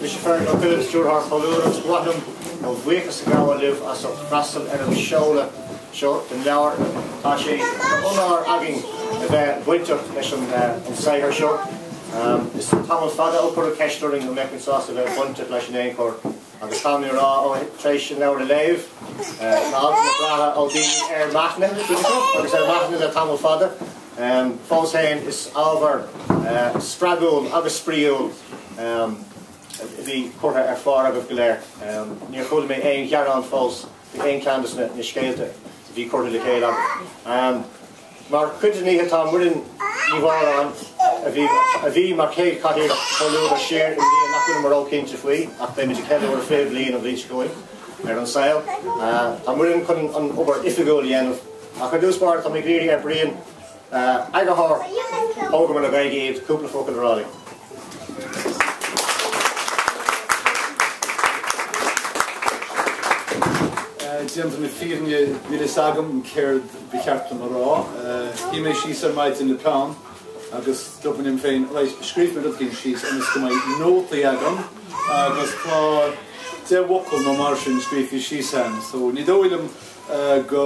Mise Feargal Ó Cuilinn, Stiúrthóir Chomhluadar agus ba mhaith liom mo bhuíochas a ghabháil libh as ucht freastal ar an seoladh seo den leabhar. Tá sé d'onóir againn a bheith bainteach leis an saothar seo. Is tamall fada ó cuireadh ceist orainn an mbeinn sásta a bheith bainteach leis in aon chor agus caithfidh mé a rá tar éis an leabhar a léamh, tá altanna breátha ó daoine ar m'aithne, agus ar m'aithne le tamall fada, Fós féin, is ábhar spreagúil agus spraíúil a bhí curtha ar phár agaibh go léir. Níor chuala mé aon ghearán fós faoi aon cheann de na scéalta a bhí curtha le chéile agaibh. Mar chuid den oíche, tá Muireann Ní Mhóráin, a bhí mar chéad chathaoirleach Chomhluadar siar i mbliain nach bhfuilim ró-chinnte faoi ach beimid ag ceiliúradh 20 bliain an bhliain seo chugainn ar an saol. Tá Muireann chun an obair oifigiúil a dhéanamh. Ach ar dtús báire, táimid ag iarraidh ar Brian, eagarthóir Thógamar le Gaeilge Iad, cúpla focal a rá linn. Déanta na fírinne, níl a fhios agam céard ba cheart dom a rá. Shuigh mé síos ar maidin le peann agus dúirt mé liom féin, right, scríobhfaidh mé rud éigin síos ionas go mbeidh nótaí agam agus tá deich bhfocal nó mar sin scríofa síos a'm, so ní dóigh liom go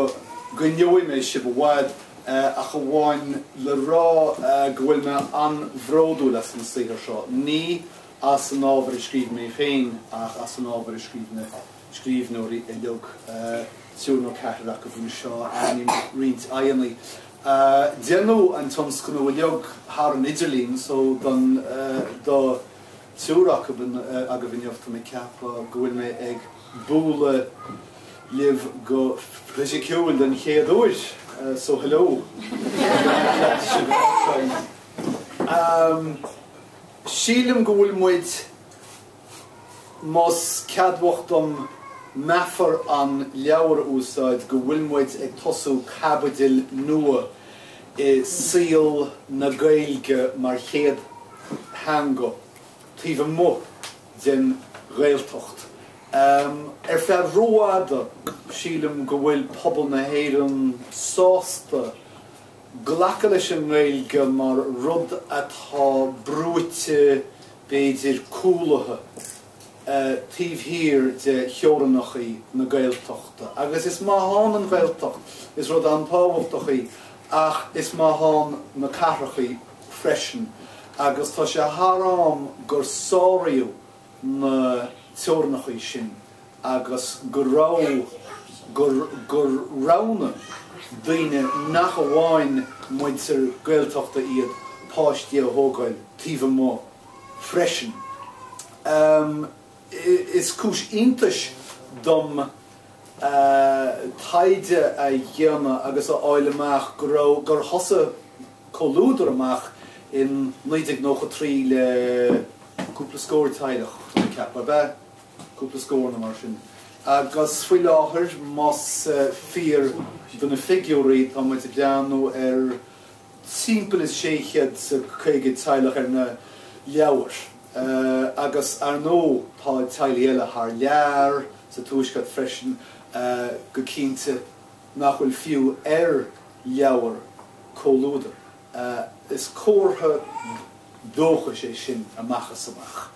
gcoinneoidh mé sibh i bhfad ach amháin le rá go bhfuil mé an-bhródúil as an saothar seo, ní as an ábhar a scríobh mé féin ach as an ábhar a scríobh na scríbhneoirí uilig, triúr nó ceathrar acu anseo aithním roinnt aghaidheanna. Deineadh an tionscnamh uilig thar an idirlíon so don, do Triúr agaibh anocht tá mé ag ceapadh go bhfuil mé ag bualadh libh go fisiciúil den chéad uair so hello Sílim go bhfuil muid más ceadmhach dom meafar an leabhair a úsáid go bhfuil muid ag tosú caibidil nua i saol na Gaeilge mar chéad theanga taobh amuigh den Ghaeltacht. Ar feadh rófhada, sílim go bhfuil pobal na hÉireann sásta glacadh leis an nGaeilge mar rud atá brúite, b'fhéidir cúlaithe. taobh thiar de theorannachaí na Gaeltachta agus is maith ann an Ghaeltacht is rud an-tábhachtach í ach is maith ann na cathrachaí freisin agus tá sé thar am gur sáraíodh na teorannachaí sin agus go raibh, gur, gur roghnaigh daoine nach amháin muintir Gaeltachta iad páistí a thógáil taobh amuigh freisin. Is cúis iontais dom taighde a dhéanamh agus a fháil amach go raibh, gur thosaigh Comhluadar amach in 1993 le cúpla scór teaghlach, tá mé ag ceapadh, ab ea? cúpla scór nó mar sin. Agus faoi láthair, más fíor do na figiúirí, tá muid ag breathnú ar. timpeall is sé chéad is caoga teaghlach ar na leabhair agus ar ndóigh tá teaghlaigh eile thar lear, sa Tuaisceart freisin go cinnte, nach bhfuil fiú ar leabhair Chomhluadar. Is comhartha dóchais é sin amach is amach.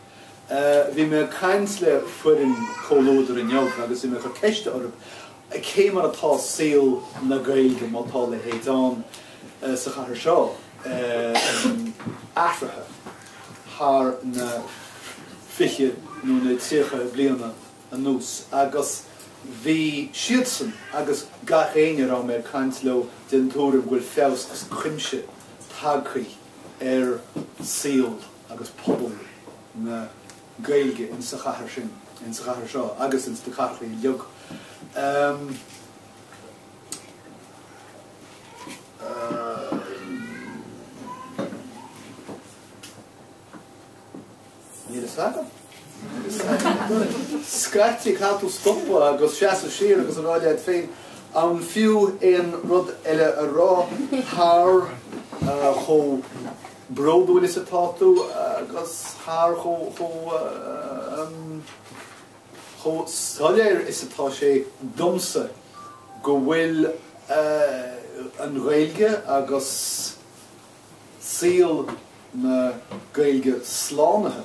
Bhí mé ag caint le foireann Comhluadar inniu agus bhí mé ag cur ceiste orthu cé mar atá saol na Gaeilge, má tá a leithéid ann, sa chathair seo athraithe thar na fiche nó na tríochaidí bliana anuas agus bhí siadsan agus gach éinne a raibh mé ag caint leo den tuairim go bhfuil feabhas as cuimse tagtha ar saol agus pobal na Gaeilge insa chathair sin, insa chathair seo agus ins na cathrachaí bheag. Níl fhios agam. Scaití caithfidh tú stopadh agus seasamh siar agus a rá leat féin an fiú aon rud eile a rá thar chomh. bródúil is atá tú agus thar chomh soiléir is atá sé domsa go bhfuil an Ghaeilge agus saol na Gaeilge slánaithe.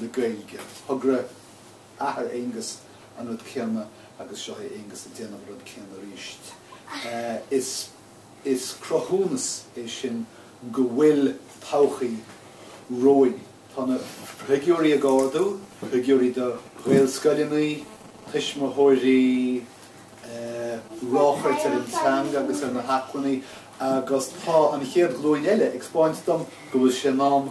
le Gaeilge. Thogra athair Aengus an rud céanna agus seo chugainn Aengus ag déanamh an rud céanna arís. Is cruthúnas é sin go bhfuil todhchaí romhainn. Tá na figiúirí ag ardú, figiúirí do Ghaelscoileannaí, tuismitheoirí, ráchairt ar an teanga agus ar na hacmhainní agus tá an chéad ghlúin eile ag spáint dom go bhfuil sé in am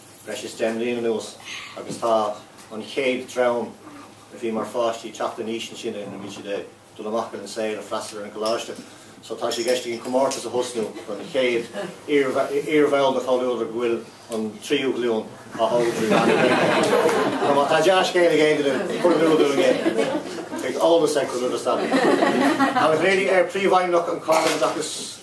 le breis is deich mbliana anuas agus tá an chéad dream a bhí mar pháistí teacht in aois anois go bhfuil siad ag dul amach ar an saol ag freastal ar an gcoláiste so tá sé i gceist againn comórtas a thosnú don chéad iarbhall de Chomhluadar go bhfuil an tríú glúin á thógáil trí mheán na Gaeilge. Má tá dea-scéal ag éinne díbh cuir in iúl dúinn é. Beidh eolas ag cur roimh an stailc. Tá na himreoirí ar príomhfheidhmeannach an Cáilín Oideachais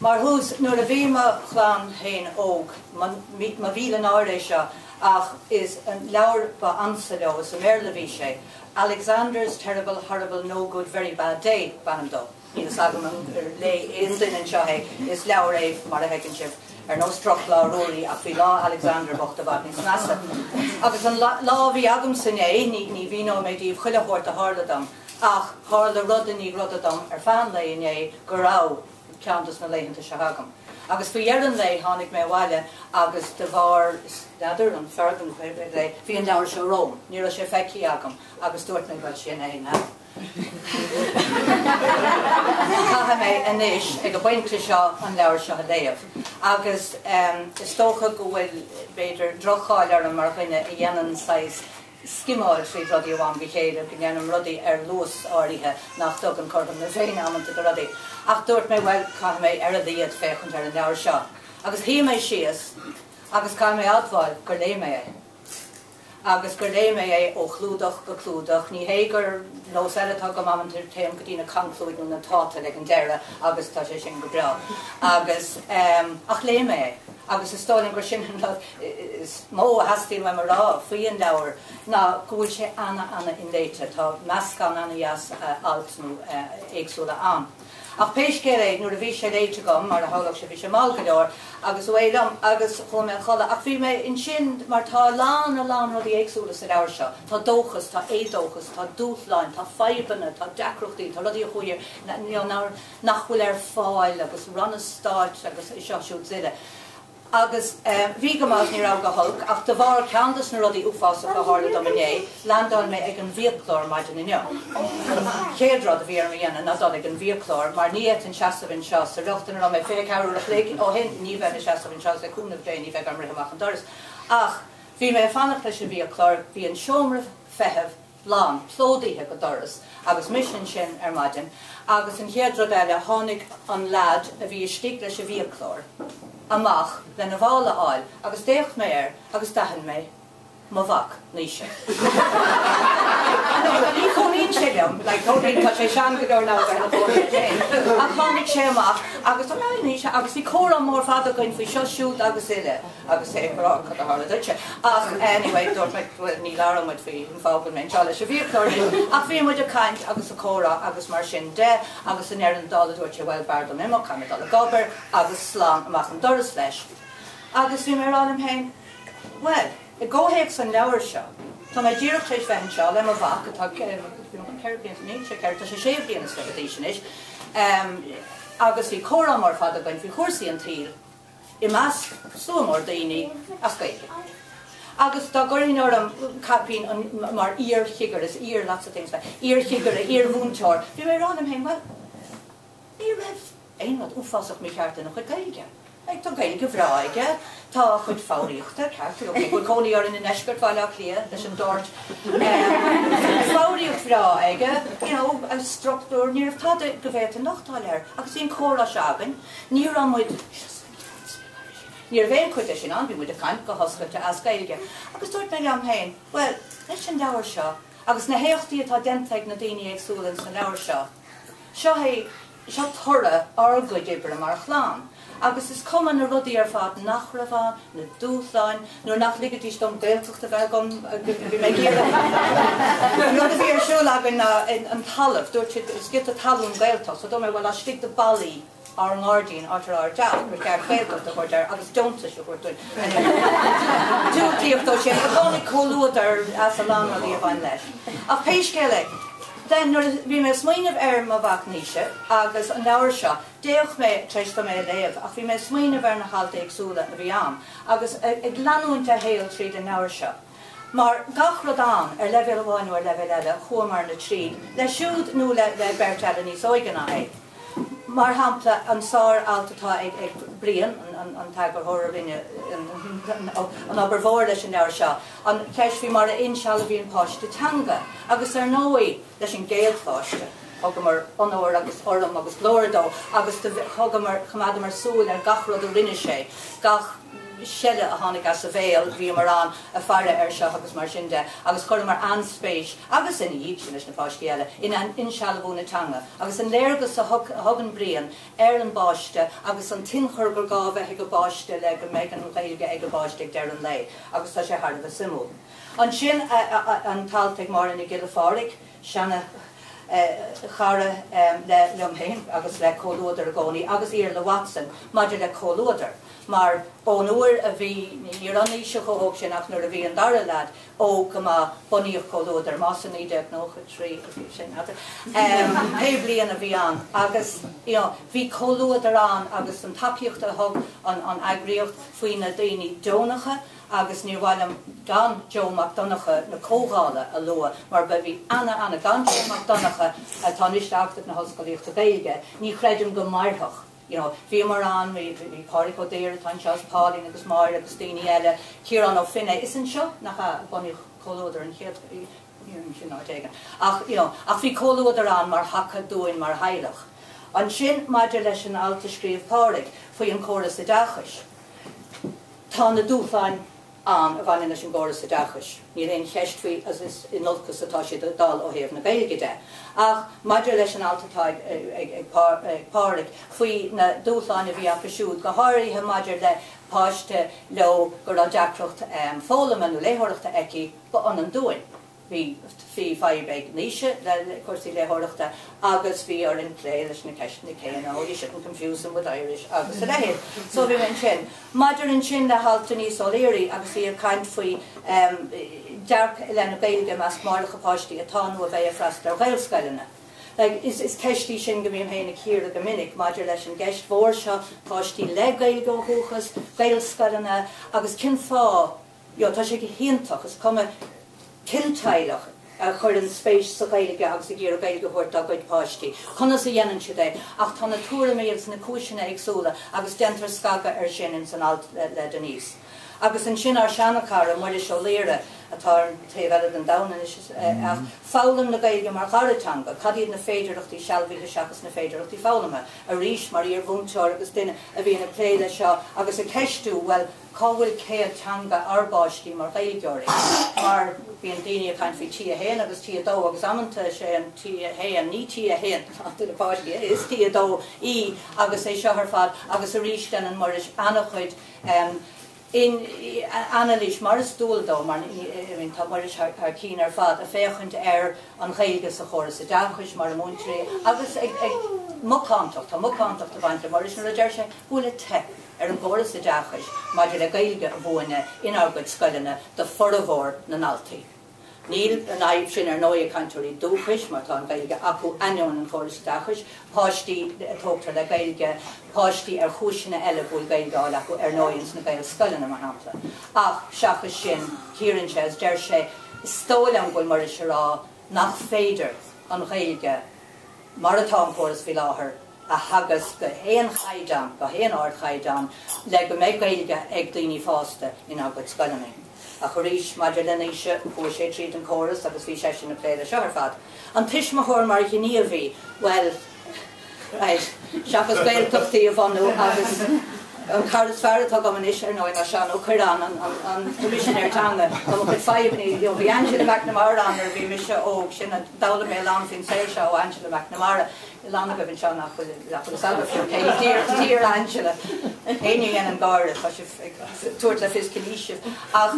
Mar thús, nuair a bhí mo chlann féin óg, mo mhíle náire é seo, ach is an leabhar ba ansa leo, is i mBéarla a bhí sé, Alexander's Terrible Horrible No Good Very Bad Day b'ainm dó. Níl fhios agam an léigh aon duine anseo é, is leabhar é, mar a fheiceann sibh, ar nós Drochlá Ruairí ach bhí lá Alexander bocht i bhfad níos measa. Agus an lá a bhí agamsa inné, ní mhíneoidh mé daoibh chuile shórt a tharla dom, Ach tharla rud i ndiaidh ruda dom ar feadh an lae inné go raibh ceann dos na laethanta seo agam. Agus faoi dheireadh an lae tháinig mé abhaile agus de bharr n'fheadar, an fearg nó cad é, bhí an leabhar seo romham. Ní raibh sé feicthe agam agus dúirt mé bhuel sin é, now. Caithfidh mé anois ag an bpointe seo an leabhar seo a léamh. Agus is dócha go bhfuil b'fhéidir droch-cháil orm mar dhuine a dhéanann saghas, scimeáil fríd rudaí ó am go chéile, go ndéanaim rudaí ar luas áirithe nach dtugann cothrom na Féinne amanta do rudaí. Ach dúirt mé, bhuel, caithfidh mé ar a laghad féachaint ar an leabhar seo. Agus shuigh mé síos agus caithfidh mé admháil gur léigh mé é. Agus gur léigh mé é ó chlúdach go clúdach. Ní hé gur nós eile atá agam amanta, téim go dtí na conclúid nó na tátail ag an deireadh agus tá sé sin go breá. Agus, em, ach léigh mé é. agus is dóigh liom gur sin an rud is mó a theastaíonn uaim a rá faoi an leabhar ná go bhfuil sé ana ana inléite. Tá meascán ana dheas altanna éagsúla ann. Ach pé scéal é nuair a bhí sé léite agam, mar a shamhlódh sé, bhí sé mall go leor agus away liom agus chuaigh mé a chodladh. Ach bhí mé ansin mar tá a lán a lán rudaí éagsúla sa leabhar seo. Tá dóchas, tá éadóchas, tá dúshláin, tá fadhbanna, tá deacrachtaí, tá rudaí a chuir nár. nach bhfuil ar fáil agus ranna stáit agus é seo siúd 's uile agus eh bhí go maith, ní raibh go holc ach de bharr ceann dos na rudaí uafásacha a tharla dom inné, leaindeáil mé ag an bhfiaclóir maidin inniu. An chéad rud a bhí orm a dhéanamh ná dul ag an bhfiaclóir mar ní fhéadfainn seasamh anseo sa riocht ina raibh mé fiche ceathair uair a chloig ó shin, ní bheinn ag seasamh anseo agus le cúnamh Dé ní bheidh orm rith amach an doras. Ach bhí mé ag fanacht leis an bhfiaclóir, bhí an seomra feithimh lán, plódaithe go doras agus mise ansin ar maidin agus an chéad rud eile tháinig an lead a bhí istigh leis an bhfiaclóir amach lena mhála a fháil agus d'fhéach mé air agus d'aithin mé mo mhac Naoise. Anois ní chónaíonn sé liom, like chónaíonn, tá sé sean go leor now ar an bhfón leis féin, ach tháinig sé amach agus oh hi Naoise agus bhí comhrá mór fada againn faoi seo siúd agus uile. agus é ag rá cad a tharla duitse ach anyway dúirt mé bhuel ní labhróimid faoi an fáth go bhfuil mé anseo leis an bhfiaclóir anois ach bhí muid ag caint agus ag comhrá agus mar sin de agus i ndeireadh na dála dúirt sé bhuel b'fhearr dom imeacht caithfidh mé dul ag obair agus slán amach an doras leis agus bhí mé ag rá liom féin bhuel i gcomhthéacs an leabhair seo tá mé díreach tar éis bheith anseo le mo mhac atá ceithre bliana níl sé ceithre tá sé sé bliana is fiche d'aois anois agus bhí comhrá mór fada againn faoi chúrsaí an tsaoil i measc slua mór daoine as Gaeilge agus dá gcuirfinn orm caipín mar iar-chigire is iar lots of things mé, iar-chigire, iar-mhúinteoir, bhí mé ag rá liom féin bhuel ní raibh aon rud uafásach mícheart lena chuid Gaeilge. Like tá Gaeilge bhreá aige, tá a chuid foghraíochta ceart, you know cé go bhfuil cónaí orainn i ndeisceart Bhaile Átha Cliath leis an Dart ehm foghraíocht bhreá aige, you know a struchtúr, ní raibh tada go bhféadfainn lochtáil air agus bhí an comhrá seo againn, Ní raibh muid, ní raibh aon chuid de sin ann, bhí muid ag caint go hoscailte as Gaeilge agus dúirt mé liom féin, bhuel, leis an leabhar seo agus na héachtaí atá déanta ag na daoine éagsúla ins an leabhar seo, seo é, seo toradh ár gcuid oibre mar chlann agus is cuma na rudaí ar fad nach raibh ann, na dúshláin, nuair nach ligidís dom Gaeltacht a bheith agam, bhí mé ag iarraidh an rud a bhí ar siúl againn ná an talamh, dúirt siad is giota talún Gaeltacht, so dúirt mé bhuel laistigh de bhallaí ár ngairdín, áit a raibh ár dteach, ba cheart Gaeltacht a thabhairt air agus deontais a thabhairt dúinn, anyway, diúltaíodh dó sin, tháinig Comhluadar as a lán rudaí a bhain leis. Ach pé scéal é, then nuair a bhí mé ag smaoineamh ar mo mhac Naoise agus an leabhar seo, D'fhéach mé tar éis dom é a léamh ach bhí mé ag smaoineamh ar na hailt éagsúla a bhí ann agus ag leanúint a shaol tríd an leabhar seo. Mar gach rud ann, ar leibhéal amháin nó ar leibhéal eile, chuamarna tríd leis siúd nó leis an mbeirt eile níos óige ná é. Mar shampla, an sár-alt atá ag Brian, an t-eagarthóir a rinne an obair mhór leis an leabhar seo, an cheist faoi mar a insealbhaíonn páiste teanga agus ar ndóigh, leis an gcéad pháiste. Thugamar onóir agus urraim agus glóir dó agus do thugamar, choimeádamar súil ar gach rud a rinne sé, gach seile a tháinig as a bhéal, bhíomar ann ag faire air seo agus mar sin de agus chuireamar an-spéis, agus ina dhiaidh sin leis na páistí eile, in insealbhú na teanga agus an léargas a thugann Brian ar an bpáiste agus an t-ionchur gur gá a bheith ag an bpáiste le go mbeidh an Ghaeilge ag an bpáiste ag deireadh an lae agus tá sé thar a bheith suimiúil. Ansin an t-alt ag Máire Nic Giolla Phádraig, seana chara le liom féin agus le Comhluadar i gcónaí, agus Iarla Watson maidir le Comhluadar, mar an uair a bhí, ní raibh Naoise chomh hóg sin ach nuair a bhí an dara leaid óg go maith bunaíodh Comhluadar, más i naoi déag nócha a trí sin, n'fheadar pé bliain a bhí ann, agus you know bhí Comhluadar ann agus ansan tacaíocht a thug an an eagraíocht faoi na daoine deonacha, agus níor mhaith liom gan Joe Mac Donncha na Comhdhála a lua mar ba, bhí ana, ana, gan Joe Mac Donncha atá anois in Acadamh na hOllscolaíochta Gaeilge ní chreidim go mairfeadh you know, bhíomar ann, bhí, bhí, bhí Pádraig Ó Daoir atá anseo is Pauline agus Máire agus daoine eile, Ciarán Ó Feinneadha, is anseo, nach ea, a bunaíodh Comhluadar an chéad, san áit éigin ach you know, ach bhí Comhluadar ann mar thaca dúinn mar theaghlach. Ansin maidir leis an alt a scríobh Pádraig faoi an córas oideachais, Tá na dúshláin ann a bhaineann leis an gcóras oideachais, níl aon cheist faoi agus is in olcas atá siad ag dul ó thaobh na Gaeilge de. Ach maidir leis an alt atá ag Pádraig faoi na dúshláin a bhí acu siúd, go háirithe maidir le páiste leo go raibh deacracht foghlama nó léitheoireachta aici, ba ionann dúinn. Bhí fadhb ag Naoise le cúrsaí léitheoireachta agus bhí orainn plé leis na ceisteanna céanna, oh you shouldn't confuse them with Irish agus a leithéid. So bhí ansin. Maidir ansin le halt Denise O'Leary agus í ag caint faoi em dearcadh i leith na Gaeilge i measc máithreacha páistí atá nó a bheidh ag freastal ar Ghaelscoileanna. Like is is ceist í sin go mbím féin ag cíoradh go minic maidir leis an gceist mhór seo páistí le Gaeilge ó dhúchas, Gaelscoileanna agus cén fáth, yeah tá sé go hiontach, is cuma cén teaghlach a chuireann spéis sa Ghaeilge agus ag iarraidh Gaeilge a thabhairt dá gcuid páistí, conas a dhéanann siad é, ach tá na tuairimí agus na cúiseanna éagsúla agus déantar scagadh air sin ins an alt le Denise. Agus ansin ár seana-chara, Muiris Ó Laoire, atá ar an taobh eile den domhan anois ach, foghlaim na Gaeilge mar dhara teanga, cad iad na féidearthachtaí sealbhaithe seachas na féidearthachtaí foghlama? Arís, mar iar-mhúinteoir agus duine a bhíonn ag plé leis seo agus ag ceistiú, bhuel, Cá bhfuil céad teanga ár bpáistí mar Ghaeilgeoirí? Mar bíonn daoine ag caint faoi T1 agus T2 agus amanta is é an T1, ní T1, is T2 í agus é seo ar fad agus arís déanann Muiris an-chuid anailís mar is dual dó mar tá Muiris thar cinn ar fad ag féachaint ar an Ghaeilge sa chóras oideachais mar a múintear í agus ag macántacht, tá macántacht ag baint le Muiris nuair a deir sé go bhfuil ag teip. ar an gcóras oideachais maidir le Gaeilge a mhúineadh inár gcuid scoileanna d'fhormhór na ndaltaí. Níl an fhadhb sin ar ndóigh ag cainteoirí dúchais mar tá an Ghaeilge acu ainneoin an chóras oideachais, páistí a tógtar le Gaeilge, páistí ar chúiseanna eile go bhfuil Gaeilge álainn acu ar ndóigh ins na Gaelscoileanna mar shampla. Ach seachas sin cíorann sé agus deir sé is dóigh liom go bhfuil Muiris a rá nach féidir an Ghaeilge mar atá an córas faoi láthair, a theagasc go h-aon chaighdeán, go h-aon ard chaighdeán le go mbeidh Gaeilge ag daoine fásta inár gcuid scoileanna. Ach arís, maidir le Naoise, chuaigh sé tríd an córas agus bhí seisean ag plé le seo ar fad. An tuismitheoir mar ghníomhaí, bhuel, right, seachas Gaeltachtaí a bhunú agus. An cara is fearr atá agam anois, ar ndóigh, ná Seán Ó Cuirreáin, an Coimisinéir Teanga. Tá mo chuid fadhbanna leo. Bhí Angela McNamara ann nuair a bhí mise óg, sin a d'fhoghlaim mé a lán faoin saol seo ó Angela McNamara. Tá a lán agaibh anseo nach bhfuil fhios agaibh faoi cé hí Dear Angela. Éinne a dhéanann gáire, tá sibh ag tabhairt le fios cén aois sibh. Ach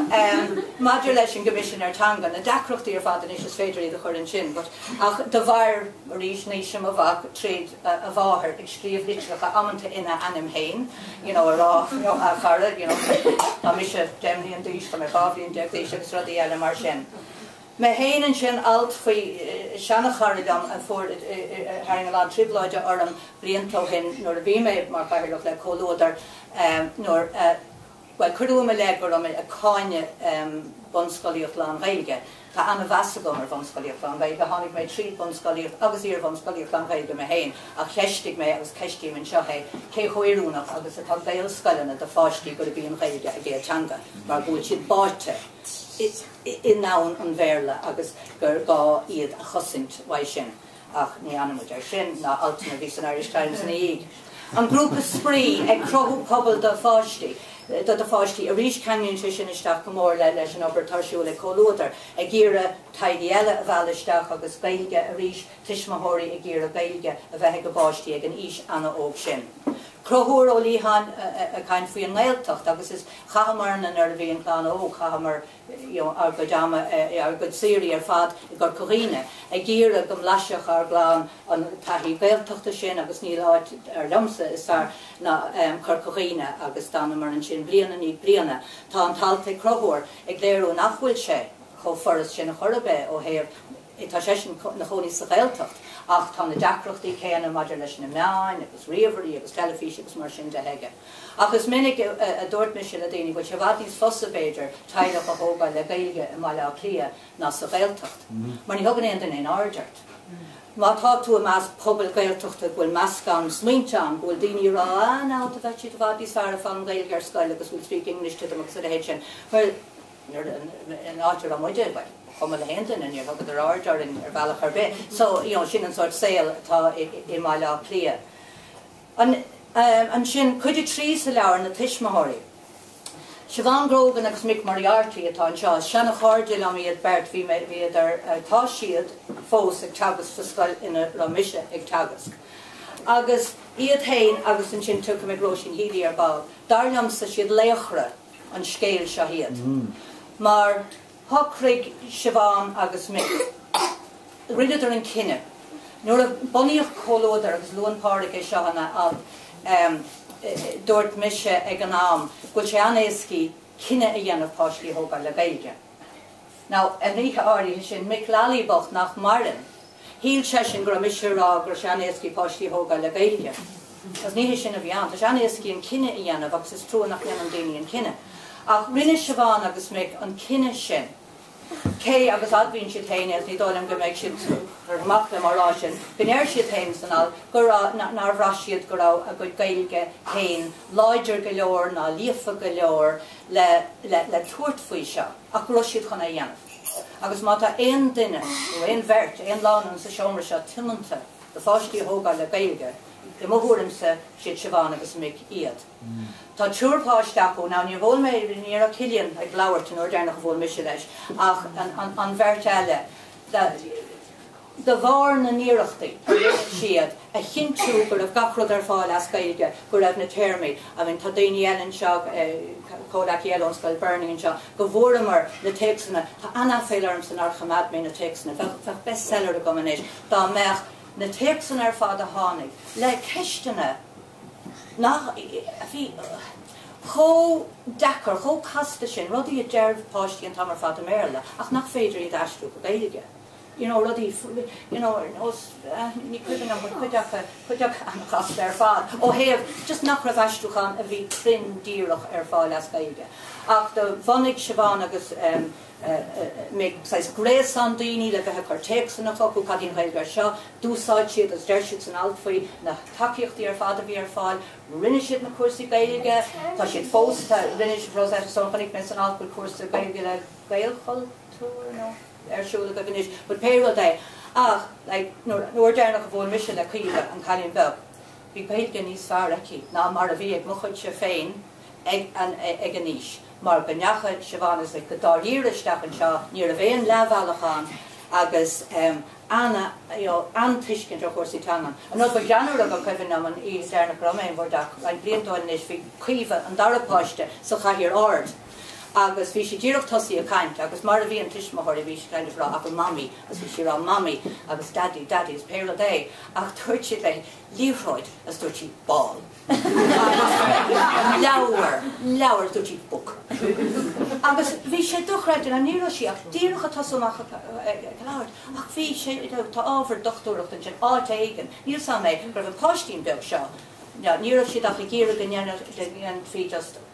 maidir leis an gCoimisinéir Teanga, na deacrachtaí ar fad anois, is féidir iad a chur ansin, but, ach de bharr, arís, aois mo mhac, tríd, a mháthair ag scríobh litreacha amanta ina ainm fhéin you know a rá you know a chara you know tá mise deich mbliain d'aois tá mé dhá bhliain déag d'aois agus rudaí eile mar sin. Mé fhéin ansin alt faoi seana-chara liom a fuair a tharraing a lán trioblóide orm blianta ó shin nuair a bhí mé mar chathaoirleach le Comhluadar nuair a Bhuel, cuireadh i mo leith go raibh mé ag cáineadh bunscolaíocht lán-Ghaeilge. Tá an-mheas agam ar bhunscolaíocht lán-Ghaeilge, tháinig mé tríd bunscolaíocht agus iarbhunscolaíocht lán-Ghaeilge mé féin, ach cheistigh mé agus ceistím anseo é cé chomh oiriúnach agus atá Gaelscoileanna do pháistí gurb í an Ghaeilge a gcéad teanga mar go bhfuil siad báite i ndomhan an Bhéarla agus gur gá iad a chosaint uaidh sin. ach ní fhanfaimid ar sin, ná altanna a bhí san Irish Times ina dhiaidh. An grúpa spraoi, ag cruthú pobal do pháistí, do do pháistí arís, ceanglaíonn sé sin isteach go mór le leis an obair atá ar siúl ag Comhluadar, ag iarraidh teaghlaigh eile a mhealladh isteach agus Gaeilge arís, tuismitheoirí ag iarraidh Gaeilge a bheith ag a bpáistí ag an aois ana-óg sin. Conchúr Ó Liatháin ag caint faoi an nGaeltacht agus is, chaitheamar na nuair a bhí an clann óg, chaitheamar, ár gcuid ama, ár gcuid saoirí ar fad i gCorca Dhuibhne ag iarraidh go mblaisfeadh ár gclann an taithí Ghaeltachta sin agus níl áit dar liomsa is fearr ná Corca Dhuibhne agus d'fhanamar ansin bliain i ndiaidh bliana. Tá an t-alt ag Conchúr ag léiriú nach bhfuil sé chomh furast sin chor ar bith ó thaobh, tá seisean ina chónaí sa Ghaeltacht ach tá na deacrachtaí céanna maidir leis na meáin agus ríomhairí agus teilifís agus mar sin de aige. Ach is minic a dúirt mise le daoine go bhfuil sé i bhfad níos fusa, b'fhéidir, teaghlach a thógáil le Gaeilge i mBaile Átha Cliath ná sa Ghaeltacht, mar ní thugann aon duine aon aird ort. Má tá tú i measc pobail Ghaeltachta go bhfuil meascán smaointe ann, go bhfuil daoine ag rá, ah, now, tá siad i bhfad níos fearr ag foghlaim an Ghaeilge ar scoil agus go bhfuil speak English to them agus a leithéid sin. Bhuel, an áit a raibh muide, ba chuma le haon duine, níor thugadar aird orainn ar bhealach ar bith. So, you know, sin an sórt saol atá i mBaile Átha Cliath. Ansin cuid a trí sa leabhar, na tuismitheoirí? Siobhán Grogan agus Mick Moriarty atá anseo. Is seana chairde liom iad beirt, bhí mé, bhíodar, tá siad fós ag teagasc sa scoil ina raibh mise ag teagasc. Agus iad féin agus ansin tiocfaidh mé ag Róisín Healy ar ball. Dar liomsa siad laochra an scéil seo iad. Mar. Shocraigh Siobhán agus Mick, rinneadar an cinneadh nuair a bunaíodh Comhluadar agus luann Pádraig é seo ina alt, Dúirt mise ag an am go bhfuil sé an-éascaí cinneadh a dhéanamh páistí a thógáil le Gaeilge. Now an oíche áirithe sin, Mick Lally bocht nach maireann, Shíl seisean go raibh mise a rá go raibh sé an-éascaí páistí a thógáil le Gaeilge. Agus ní hé sin a bhí ann. Tá sé an-éascaí an cinneadh a dhéanamh agus is trua nach ndéanann daoine an cinneadh. Ach rinne Siobhán agus Mick an cinneadh sin. Cé agus admhaíonn siad féin é agus ní dóigh liom go mbeidh siad ar buile liom á rá sin, go ndeir siad féin san alt go raibh, nár bhraith siad go raibh a gcuid Gaeilge féin láidir go leor ná líofa go leor le tabhairt faoi seo. ach go raibh siad chun é a dhéanamh. Agus má tá aon duine, nó aon bheirt, aon lánúin sa seomra seo tiomanta do pháistí a thógáil le Gaeilge, i mo thuairimse, siad Siobhán agus Mick iad. Tá triúr páiste acu, now níor bhuail mé, ní raibh Cillian ag labhairt an uair deireanach a bhuail mise leis, ach an bheirt eile, de bharr na n-iarrachtaí siad a chinntiú go raibh gach rud ar fáil as Gaeilge, go raibh na téarmaí, I mean tá daoine eile anseo, comhleacaí eile ón scoil Bernie anseo, go bhfuaireamar na téacsanna, tá an-aiféal ormsa nár choimeád mé na téacsanna, bheadh, bheadh bestseller agam anois dá mbeadh na téacsanna ar fad a tháinig le ceisteanna nach, a bhí chomh deacair, chomh casta sin, rudaí a deir páistí an t-am ar fad i mBéarla ach nach féidir iad a aistriú go Gaeilge. you know, rudaí, you know, nós, ní cuimhin liom, but cuid aca, cuid aca an-chasta ar fad ó thaobh just nach raibh aistriúchán a bhí cruinn díreach ar fáil as Gaeilge. Ach do bhunaigh Siobhán agus Mick saghas gréasán daoine le bheith ag cur téacsanna chucu, cad í an Ghaeilge ar seo? D'úsáid siad, is deir siad san alt faoi, na tacaíochtaí ar fad a bhí ar fáil, rinne siad na cúrsaí Gaeilge, tá siad fós, tá, rinne, Rosetta Stone, chonaic mé san alt go bhfuil cúrsa Gaeilge le Gaelchultúr nó. ar siúl agaibh anois but pé rud é ach like nuair, an uair deireanach a bhuail mise le Caoimhe, an cailín beag, bhí Gaeilge níos fearr aici ná mar a bhí ag mo chuidse féin ag an, ag an aois mar go ndeacha Siobhán is like go dáiríre isteach anseo, ní raibh aon leathbhealach ann agus em ana you know an-tuiscint ar chúrsaí teangan. An rud ba greannmhaire a ba cuimhin liom an oíche deireanach a raibh mé in bhur dteach roinnt blianta ó shin anois bhí Caoimhe, an dara páiste, sa chathaoir ard, Agus bhí sí díreach tosaí ag caint agus mar a bhíonn tuismitheoirí bhí siad kind of ag rá Mamaí agus bhí sí rá Mamaí agus Daidí Daidí is pé rud é ach dúirt siad léi liathróid agus dúirt sí ball agus leabhar leabhar agus dúirt sí book agus bhí sé dochreidte ná ní raibh sí ach díreach ag tosú amach ag ag labhairt ach bhí sé you know tá ábhar dochtúireacht ansin áit éigin níl a fhios agam go raibh an páistín beag seo ná ní raibh siad ach ag iarraidh go ndéanfadh go ndéanfaí just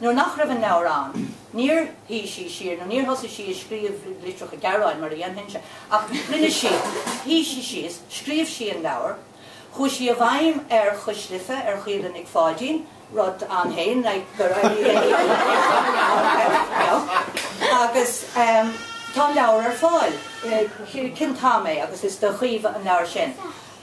Nuair nach raibh an leabhar ann, níor shuigh sí siar nó níor thosaigh sí ag scríobh litreacha gearáin mar a dhéanfainnse, ach rinne sí, shuigh sí síos, scríobh sí an leabhar, chuaigh sí i bhfeidhm ar Chois Life, ar Chaoilfhionn Nic Pháidín, rud ann féin, like, gur éirigh léi, you know, agus tá an leabhar ar fáil, Cén t-am é agus is do Chaoimhe an leabhar sin.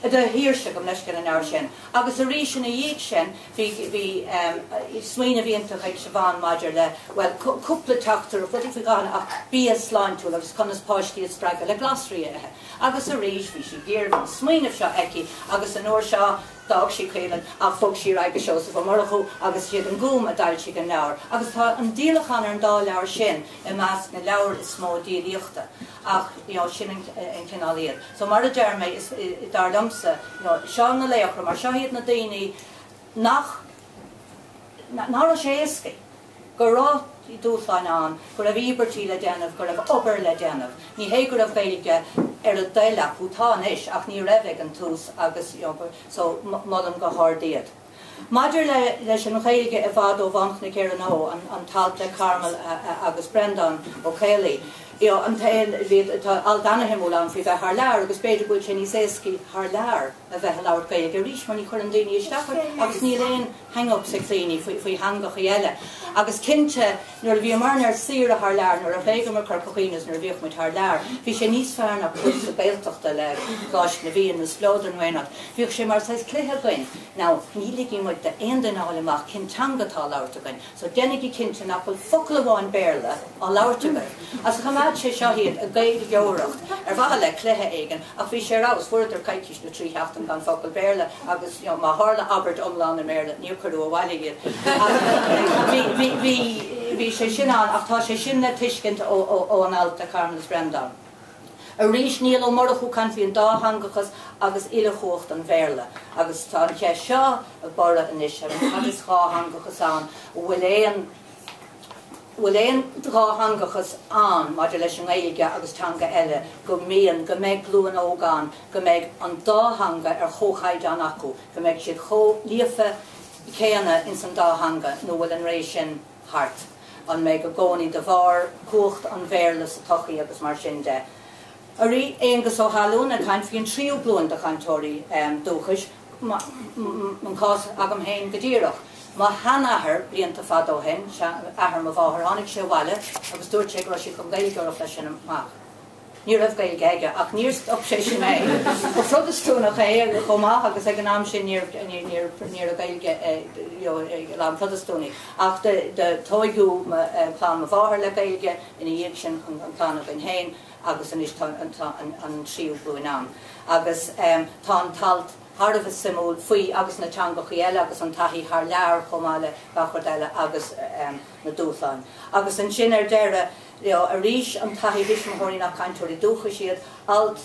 Do Shaoirse, gabh mo leithscéal, an leabhar sin. Agus arís ina dhiaidh sin bhí, bhí em, smaoineamh iontach ag Siobhán maidir le, bhuel, cúpla teachtaireacht, rudaí faoi dhán ach bia sláintiúil agus conas páistí a spreagadh le glasraí a ithe. Agus arís bhí sí géar, bhí an smaoineamh seo aici agus an uair seo, d'fhág sí Caoilfhionn ach bhog sí ar aghaidh go Seosamh Ó Murchú agus is iad an Gúm a d'fhoilsigh an leabhar agus tá an díolachán ar an dá leabhar sin i measc na leabhair is mó díolaíochta ach you know sin an cineál iad. So mar a deir mé is dar liomsa you know seo na laochra mar seo iad na daoine nach ná raibh sé éasca go raibh dúshláin ann, go raibh íobairtí le déanamh, go raibh obair le déanamh. Ní hé go raibh Gaeilge ar a dtoil acu, tá anois ach ní raibh ag an tús agus you know so molaim go hard iad. Maidir le leis an Ghaeilge i bhfad ó Bhánchnoic Éireann Ó an an t-alt le Carmel agus Breandán Ó Caollaí, you know, an tá alt ana-shuimiúil ann faoi bheith thar lear agus b'fhéidir go bhfuil sé níos éascaí thar lear a bheith a' labhairt Gaeilge arís mar ní chuireann daoine isteach ort agus níl aon hang-ups ag daoine faoi faoi theangachaí eile agus cinnte Nuair a bhíomarna ar saoire thar lear, nuair a thréigeamar Corca Dhuibhne is nuair a bhíodh muid thar lear, bhí sé níos fearr ná cúrsa Gaeltachta le Coláiste na bhFiann nó Spleodar nó aon áit. Bhíodh sé mar saghas cluiche againn, now ní ligfidh muid d'aon duine a fháil amach cén teanga atá á labhairt againn, so déanaigí cinnte nach bhfuil focal amháin Béarla á labhairt againn. Agus choimeád sé seo iad ag gaeilgeoireacht ar mhaithe le cluiche éigin ach bhí sé ar fheabhas, fuaireadar coicís. le trí sheachtain gan focal Béarla agus má tharla abairt iomlán i mBéarla níor cuireadh abhaile iad. Bhí sé sin ann ach tá sé sin le tuiscint ón alt le Carmel is Breandán. Arís Niall Ó Murchú ag caint faoin dátheangachas agus uilechumhacht an Bhéarla agus tá an cheist seo ag borradh anois, cad is dhátheangachas ann? An bhfuil aon. bhfuil aon dhátheangachas ann maidir leis an nGaeilge agus teanga eile, go mbíonn go mbeidh glúin óg ann go mbeidh an dá theanga ar chomhchaighdeán acu, go mbeidh siad chomh líofa céanna ins an dá theanga, nó bhfuil an ré sin thart? An mbeidh i gcónaí de bharr cumhacht an Bhéarla sa tsochaí agus mar sin de? Arís, Aonghus Ó hAlmhain ag caint faoin tríú glúin de chainteoirí dúchais, an cás agam féin go díreach. Mo shean-athair, blianta fada ó shin, athair mo mháthar, tháinig sé abhaile agus dúirt sé go raibh siad chun Gaeilge a labhairt as sin amach. Ní raibh Gaeilge aige ach níor stop sé sin é. Ba Phrotastúnach é chomh maith agus ag an am sin ní raibh Gaeilge ag a lán Protastúnaigh. Ach do tóigeadh clann mo mháthar le Gaeilge, ina dhiaidh sin an clann againn féin. agus anois tá an tríú glúin ann agus tá an t-alt thar a bheith suimiúil faoi agus na teangachaí eile agus an taithí thar lear chomh maith le gach rud eile agus na dúshláin. Agus ansin ar deireadh arís an taithí thuismitheoirí nach cainteoirí dúchais iad, alt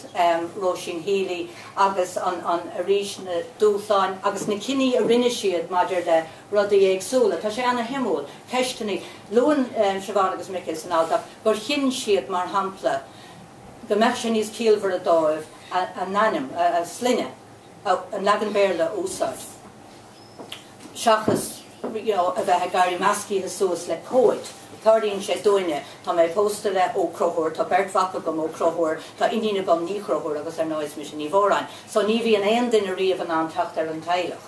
Róisín Healy agus an arís na dúshláin agus na cinní a rinne siad maidir le rudaí éagsúla. Tá sé ana shuimiúil. Ceisteannaí. Luann Siobhán agus Michael san alt acu. gur chinn siad, mar shampla, go mbeadh sé níos ciallmhaire dóibh a n-ainm, a sloinne, an leagan Béarla a úsáid seachas you know a bheith ag éirí meascaithe suas le comhaid. Tarlaíonn sé dúinne. Tá mé pósta le Ó Conchúir, tá beirt mhac agam, Ó Conchúir, tá iníon agam, Ní Chonchúir, agus ar ndóigh is mise Ní Mhóráin. So ní bhíonn aon duine riamh in ann teacht ar an teaghlach.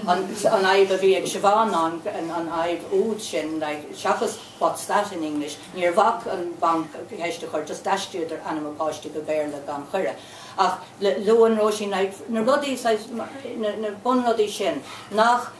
an fhadhb a bhí ag Siobhán ná an fhadhb úd sin seachas what's that in English? Níor bhac an banc ceist a chur, just d'aistríodar ainm an pháiste go Béarla gan chuireadh. Ach luann Róisín na rudaí, saghas, na bunrudaí sin nach,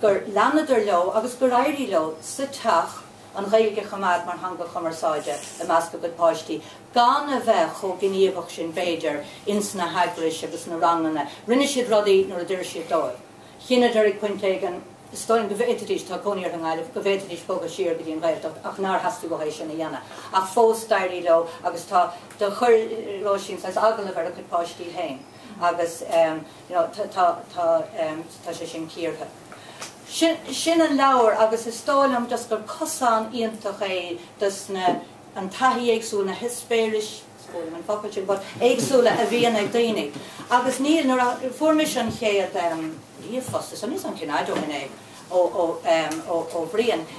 gur leanadar leo agus gur éirigh leo sa teach, an Ghaeilge a choimeád mar theanga chumarsáide i measc a gcuid páistí, gan a bheith chomh gníomhach sin b'fhéidir ins na heagrais agus na ranganna. Rinne siad rudaí nuair a d'oir siad dóibh. Chinneadar ag pointe éigin, is dóigh liom, go bhféadfaidís, tá cónaí orthu i nGaillimh, go bhféadfaidís bogadh siar go dtí an Ghaeltacht ach nár theastaigh uathu é sin a dhéanamh. Ach fós d'éirigh leo agus tá, do chuir Róisín saghas agallamh ar a cuid páistí féin agus, you know, tá sé sin cíortha. Sin an leabhar agus is dóigh liom just gur cosán iontach é dos na, an taithí éagsúil, na heispéiris, is fuath liom an focal sin, but éagsúla a bhíonn ag daoine. Agus níl, nuair a fuair mise an chéad ehm ríomhphost, nó an cuireadh, I don't know, ó, ó, ehm, ó, ó Bhrian,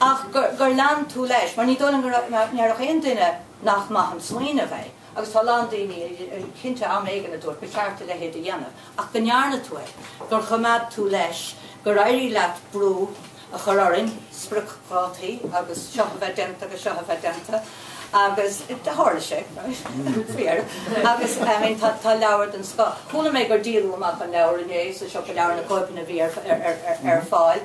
ach gur lean tú leis, mar ní dóigh liom go ndéarfadh aon duine nach maith an smaoineamh é, agus tá a lán daoine, cinnte, am éigin a dúirt, ba cheart a leithéid a dhéanamh, ach go ndearna tú é, gur choimeád tú leis, gur éirigh leat brú a chur orainn, spriocdhátaí agus seo a bheith déanta agus seo a bheith déanta, agus tharla sé, faoi dheireadh, agus tá leabhar den scoth, chuala mé gur díoladh amach an leabhar inné sa siopa leabhar, na cóipeanna a bhí ar fáil.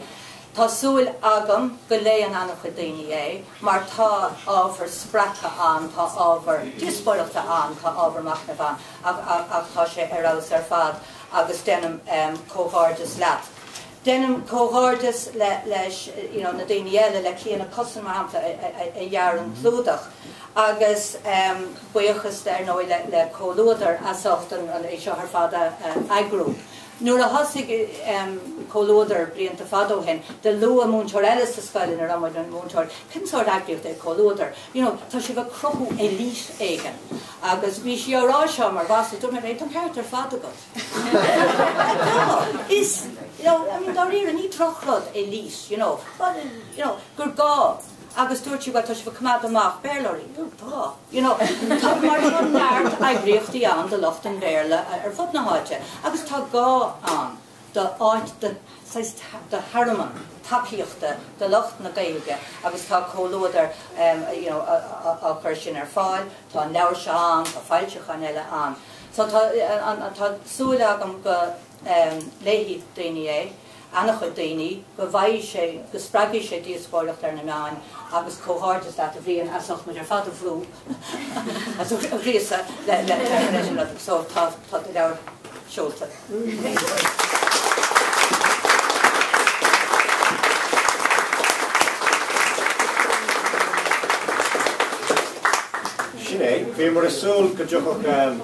Tá súil agam go léifidh an-chuid daoine é mar tá ábhar spreagtha ann, tá ábhar díospóireachta ann, tá ábhar machnaimh ann ach tá sé ar fheabhas ar fad agus déanaim comhghairdeas leat. Déanaim comhghairdeas leis na daoine eile, le Cliodhna Cussen, mar shampla, a dhear an clúdach agus buíochas ar ndóigh le Comhluadar as ucht é seo ar fad a eagrú. Nuair a thosaigh Comhluadar blianta fada ó shin, do luaigh múinteoir eile sa scoil ina raibh mé i mo mhúinteoir, cén sórt eagraíocht é Comhluadar? You know, tá sibh ag cruthú elite éigin. Agus bhí sí á rá seo mar mhasla, dúirt mé léi, tá an ceart ar fad agat. Tá. Is, you know, I mean, dáiríre, ní drochrud elite, you know. But, you know, gur gá. agus dúirt sí bhuel tá sibh ag coimeád amach Béarlóirí. Tá, you know. Tá mar tá neart eagraíochtaí ann do lucht an Bhéarla ar fud na háite agus tá gá ann do áit do saghas do thearmann tacaíochta do lucht na Gaeilge agus tá Comhluadar you know á cur sin ar fáil, tá an leabhar seo ann, tá foilseacháin eile ann. So tá tá súil agam go léifidh daoine é. ana-chuid daoine, go bhfaighidh sé, go spreagfaidh sé díospóireacht ar na meáin agus comhghairdeas leat a Bhriain as ucht muid ar fad a bhrú is a ghríosadh le leis an rud so tá an leabhar seolta. Sin é, bhíomar ag súil go dtiocfadh